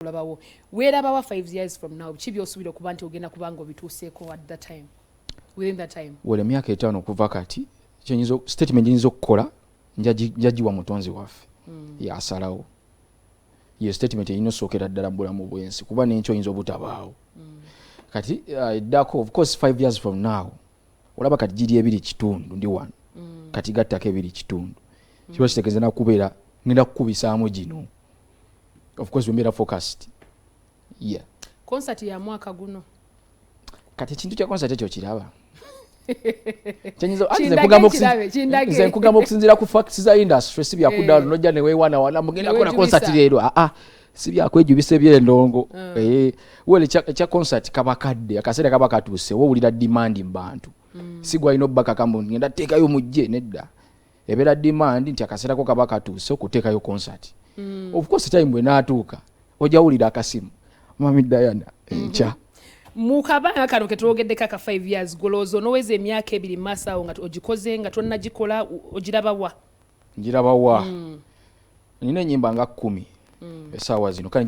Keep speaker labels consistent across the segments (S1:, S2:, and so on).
S1: kulabawo werabawa 5 years from now biki byosubira okuba nti ogenda kuba nga obituuseeko at that time within that time wala emyaka etaano okuva
S2: kati kyenyinza statement nyinza okukola njagiwa mutonzi waffe mm. yasalawo ye statement eyina osookera ddala mubulamu bwensi kuba nenkyo oyinza obutabaawo mm. kati uh, eddako uh, of course 5 years from now olaba kati giri ebiri kitundu ndi wano mm. kati gattako ebiri kitundu mm. kiba kitegeeza nakubeera ngenda kukubisaamu gino ofcourse wembeera focused ye konsati ya
S1: mwaka guno kati
S2: ekintu kya konsati ekyo kiraba nze nkugamba okusinziira ku facts za industry si byakudaalo eh. nojja newewana wana mugenda kona konsati leero aa ah, ah. si byakwejubisa ebyendongo mm. eh, well ekya concert kaba kadde akaseera kaba katuuse wowulira demand mu bantu mm. si gwalina obbakaka mbu ngenda teekayo mujje nedda ebeera demand nti akaseerako kaba katuuse okuteekayo concert mm. of course time bwe naatuuka ojawulira akasimu mami diana mhm. enkya mm -hmm. mukabanga
S1: kano ketwogeddeko aka 5 years golowooza onoweza emyaka ebiri maaso awo nga ogikoze nga tonnagikola ogiraba wa njiraba wa
S2: mm. nina enyimba nga kumi mm. esaawa zino kale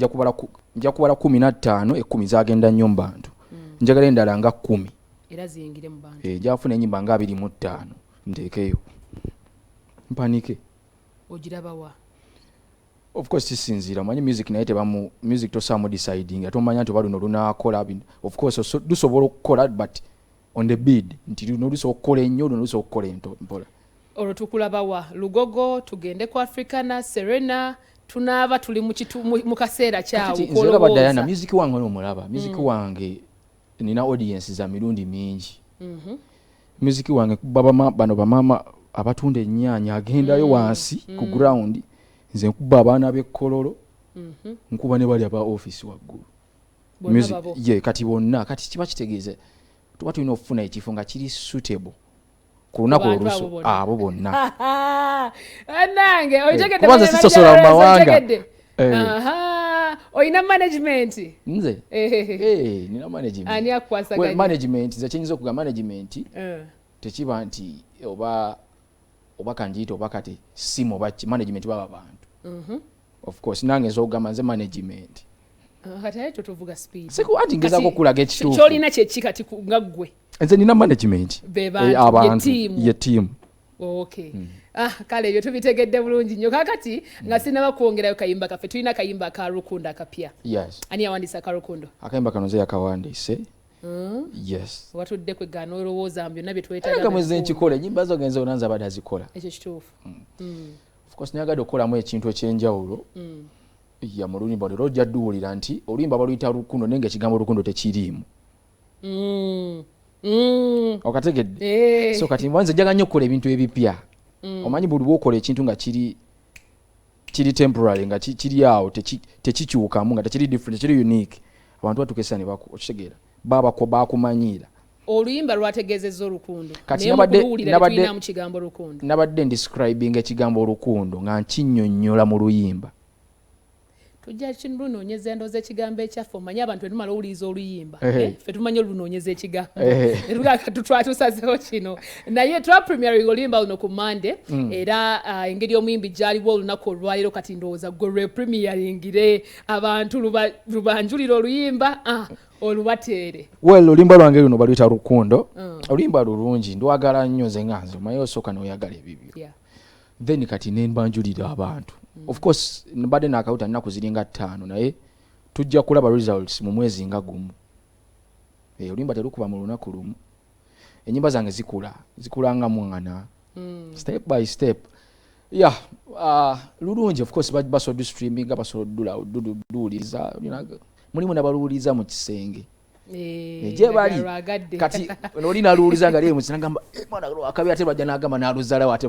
S2: nja kubala kumi nattaano ekumi zagenda nnyo mu bantu mm. njagala endala nga kumi eh,
S1: njafuna enyimba nga abiri
S2: mu ttaano nteekeyo mpanike
S1: ogirabawa
S2: of course sisinziira omanyi music naye tebamu music tosaamu deciding ate omanya nti oba luno lunaakola of course lusobola okukola but on the bid nti luno olusa okukola ennyo luno olusa okukola ento mpola olwo tukulabawa
S1: lugogo tugende ku africana serena tunaaba tuli mu kaseera kyawolaba diana music
S2: wange nomulaba music mm. wange nina audience za mirundi mingi mhm. music wange babama bano bamama abatunda ennyanya agendayo mm. wansi ku mm. ground nze nkuba abaana b'ekkololo mhm. nkuba ne bali aba office waggulu music ye kati bonna kati kiba kitegeeza tuba tulina okufuna ekifo nga kiri suitable ku lunaku olusu abo bonna
S1: nange okitegedekubanza eh,
S2: sisosola mu mawanga eh.
S1: olina management nze eh,
S2: nina managementmanagement
S1: nze kyenyinza
S2: okuga management tekiba nti oba oba kanjiyita oba kati simu oba management baba bantu mhm. of course nange nzogamba nze management kati ayo
S1: totuvuga speed siku anti ngezako kulaga
S2: ekituufu kyolina kyeki kati
S1: nga ggwe nze nina management
S2: eh, abantu ye tiimu okay
S1: mm. ah kale ebyo tubitegedde bulungi nnyo kakati mm. nga sinaba kwongerayo kayimba kaffe tulina kayimba ka rukundo akapya yes ani yawandiisa
S2: ka rukundo
S1: akayimba kano nze
S2: yakawandiise Hmm? yes watudde kwe gana
S1: olowooza mu byonna byetwetaaga mwezi nkikola enyimba
S2: zo genza onanza abadde azikola ekyo kituufu hmm.
S1: Hmm. of
S2: course nayagadde okukolamu ekintu ekyenjawulo mm. ya mu luyimba lero ojja duwulira nti oluyimba baluyita lukundo naye nga ekigambo lukundo tekiriimu mm. mm. okategedde hey. Eh. so kati nze njaga nnyo okukola ebintu ebipya mm. omanyi buli bwokola ekintu nga kiri kiri temporary nga kiri awo tekikyukamu nga tekiri different tekiri unique abantu batukesa ne baku okitegeera baba ko bakumanyiira oluyimba
S1: lwategeezezza olukundo nayemukuluwuliralinamu kigambo lukundo nabadde ndiscribinga
S2: ekigambo olukundo nga nkinyonyola mu luyimba
S1: tujja lunoonyeza endooza ekigambo ekyaffe omanye abantu etumala owuliriza oluyimba eh, fe tumanye olunoonyeza ekigambo etwatusazeho kino naye twapremiering oluyimba luno ku mande mm. era ah, engeri omuyimbi gyaliwo olunaku olwaleero kati ndowooza gwe lwepremiaringire abantu lubanjulira oluyimba ah, olubateere well oluyimba lwange
S2: luno baluyita rukundo mm. oluyimba lulungi ndwagala nnyo nze nga nze omaye osooka noyagala ebibyo yeah. then kati nembanjulira abantu mm. of course mbadde nakawuta nnaku ziringa ttaano naye tujja kulaba results mu mwezi nga gumu eh, oluyimba terukuba mu lunaku lumu enyimba zange zikula zikula nga mwana mm. step by step ya uh, lulungi of course basobola dustreaming basobola dula duwuliriza mulimu nabaluwuliriza mu kisenge eh, gyebali kati noli naluwuliza nga lyemukisnagamba eh, mwana akabi ate lwajja nagamba naluzalawo ate